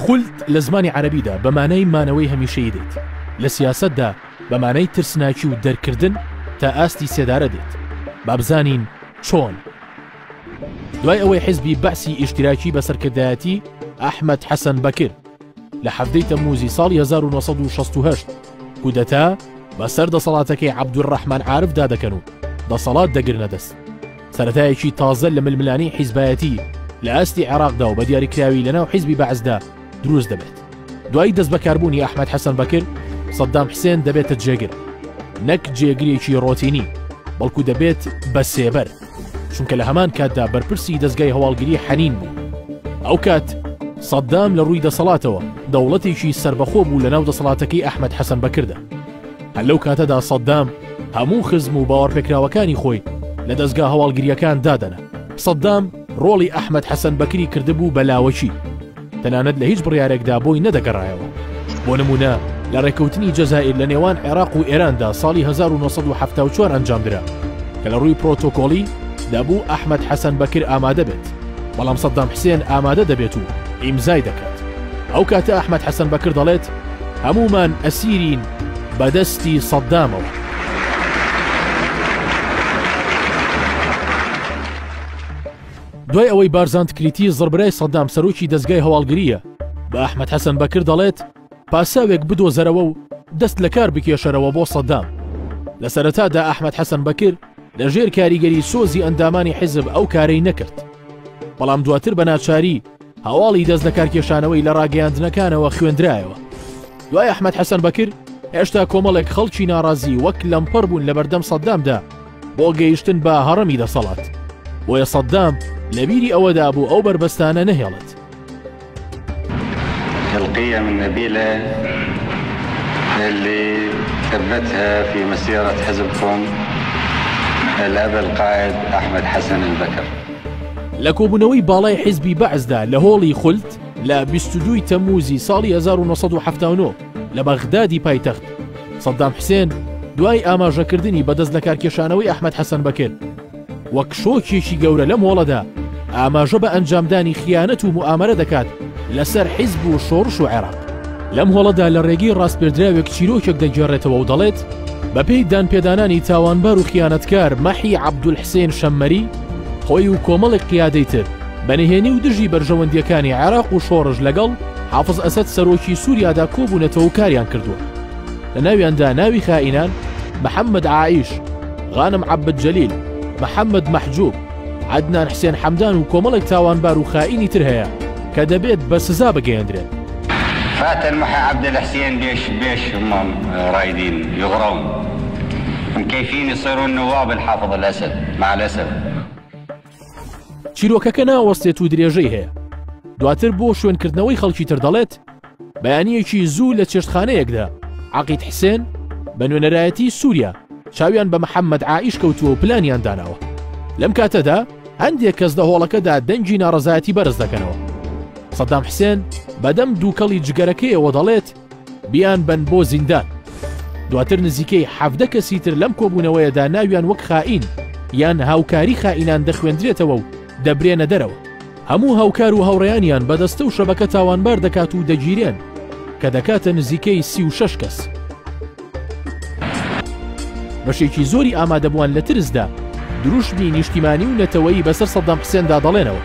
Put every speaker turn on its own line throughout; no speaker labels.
خولد لە زمانی عەرەبیدا بە مانای مانەوەی هەمیشەیی دێت لە سیاسەتدا بە مانای ترسناکی و دەرکردن تا ئاستی سێدارە دێت بابزانین چۆن دوای ئەوەی حزبی بەسی ئیشتراکی بە سەرکردایەتی ئەحمد حەسەن بەکر لە حەفتەی تەموزی ساڵی 1960 کودەتا بەسەر دەسەڵاتەکەی عبدول ڕحمان عاعرفدا دەکەن و دەسەڵات دەگرنە دەست سەرەتایەکی تازە لە ململانێی حیزبایەتی لە ئاستی عێراقدا و بە دیاریکراوی لەناو حیزبی بەعسدا دروست دەبێت دوای دەست بەکاربوونی ئەحمد حەسەن بەکر سەددام حسێن دەبێتە جێگر نەک جێگرێکی ڕۆتینی بەڵکو دەبێت بە سێبەر چونکە لە هەمان کاتدا بەرپرسی دەستگای هەواڵگری حەنین بوو ئەو کات سەددام لە ڕووی دەسەڵاتەوە دەوڵەتێکی سربەخۆ بوو لە ناو دەسەڵاتەکەی ئەحمد حەسەن بەکردە هەر لەو کاتەدا سەددام هەموو خزم و باوەڕپێکراوەکانی خۆی لە دەستگا هەواڵگریەکان دادەنا سەددام ڕۆڵی ئەحمد حەسەن بەکری کردبوو بە لاوەکی تەنانەت لە هیچ بڕارێکدا بۆی نەدەگەڕایەوە بۆ نمونە لە ڕێککەوتنی جەزائیر لە نێوان عێراق و ئێراندا ساڵی 1970 ئەنجامدرا کە لە ڕووی پرۆتۆکۆڵی دەبوو ئەحمد حەسەن بەکر ئامادە بێت بەڵام سەدام حسێن ئامادە دەبێت و ئیمزای دەکات. ئەو کاتە ئەحمەد حەسەن بەکر دەڵێت، هەموومان ئەسیرین بە دەستی سەدامەوە. دوای ئەوەی بارزان تکریتی زڕبرای سەدام سەرۆکی دەزگای هەواڵگرییە، بە ئەحمەد حەسەن بەکر دەڵێت، پاساوێک بدۆزەرەوە و دەست لەکار بکێشەرەوە بۆ سەدام. لە سەرەتادا ئەحمەد حەسەن بەکر لە ژێر کاریگەری سۆزی ئەندامانی حیزب ئەو کارەی نەکرد. بەڵام دواتر بە ناچاری هەواڵی دەست لەکارکێشانەوەی لە ڕاگەیاندنەکانەوە خوێندرایەوە. دوای ئەحمەد حەسەن بەکر هێشتا کۆمەڵێک خەڵکی ناڕازی وەک لەمپەر بوون لە بەردەم سەدامدا بۆ گەیشتن بە هەڕەمی دەسەڵات. بۆیە سەدام لەبیری ئەوەدا بوو ئەو بەربەستانە نەهێڵێت.
هەلقەی ئەم نەبیلە اللي ثبتها في مسيرة حزبكم الأب القائد أحمد حسن البكر. لە
کۆبوونەوەی باڵای حیزبی بەعسدا لە هۆڵی خولد لە بیست و دووی تەمووزی ساڵی هەزار و نۆ سەد و حەفتا و نۆ لە بەغدادی پایتەخت، سەددام حسێن دوای ئاماژەکردنی بە دەستلەکارکێشانەوەی ئەحمەد حەسەن بەکر، وەک شۆکێکی گەورە لەم هۆڵەدا ئاماژە بە ئەنجامدانی خیانەت و موئامەرە دەکات لەسەر حیزب و شۆڕش و عێراق. لەم هۆڵەدا لە ڕێگەی ڕاسپێردراوێک چیرۆکێک دەگێڕێتەوە و دەڵێت، بەپێی دانپێدانانی تاوانبار و خیانەتکار مەحی عەبدولحسێن شەممەری، خۆی و کۆمەڵێک قیادەی تر بە نهێنی و دژی بەرژەوەندییەکانی عێراق و شۆڕش لەگەڵ حافز ئەسەد سەرۆکی سووریادا کۆبوونەتەوە و کاریان کردووە. لە ناویاندا ناوی خائینان، محەممەد عائیش، غانم عەبد جەلیل، محەممەد مەحجووب، عەدنان حسێن حەمدان و کۆمەڵێک تاوانبار و خائینی تر هەیە کە دەبێت بە سزا بگەیەندرێن. فاتن
محە عەبدل حسێن بێش بێش مام رایدین یغڕون من کەیفینی صرون نواب الحافظ الاسد مع الاسف.
چیرۆکەکە ناوەستێت و درێژەی هەیە دواتر بۆ شوێنکردنەوەی خەڵکی تر دەڵێت بەیانیەکی زوو لە چێشتخانەیەکدا عقید حسێن بە نوێنەرایەتی سووریا چاویان بە محەممەد عیش کەوتووە و پلانیان داناوە لەم کاتەدا هەندێک کەس لە هۆڵەکەدا دەنگی ناڕزایەتی بەرز دەکەنەوە سەدام حسێن بەدەم دووکەڵی جگەرەکەیەوە دەڵێت بیان بەن بۆ زیندان. دواتر نزیکەی حەڤدە کەسی تر لەم کۆبوونەوەیەدا ناویان وەک خائین یان هاوکاری خائینان دەخوێندرێتەوە و دەبرێنە دەرەوە. هەموو هاوکار و هاوڕێیانیان بە دەستە و شەبەکە تاوانبار دەکات و دەگیرێن، کە دەکاتە نزیکەی سی و شەش کەس. بەشێکی زۆری ئامادەبووان لە ترسدا دروشمی نیشتیمانی و نەتەوەیی بەسەر سەدام حسێندا دەڵێنەوە.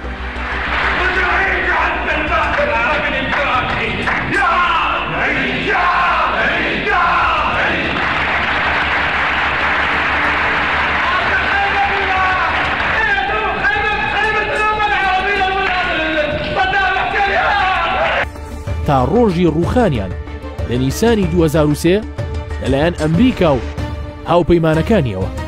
تا ڕۆژی ڕووخانیان لە نیسانی 2023 لەلایەن ئەمریکا و هاوپەیمانەکانیەوە.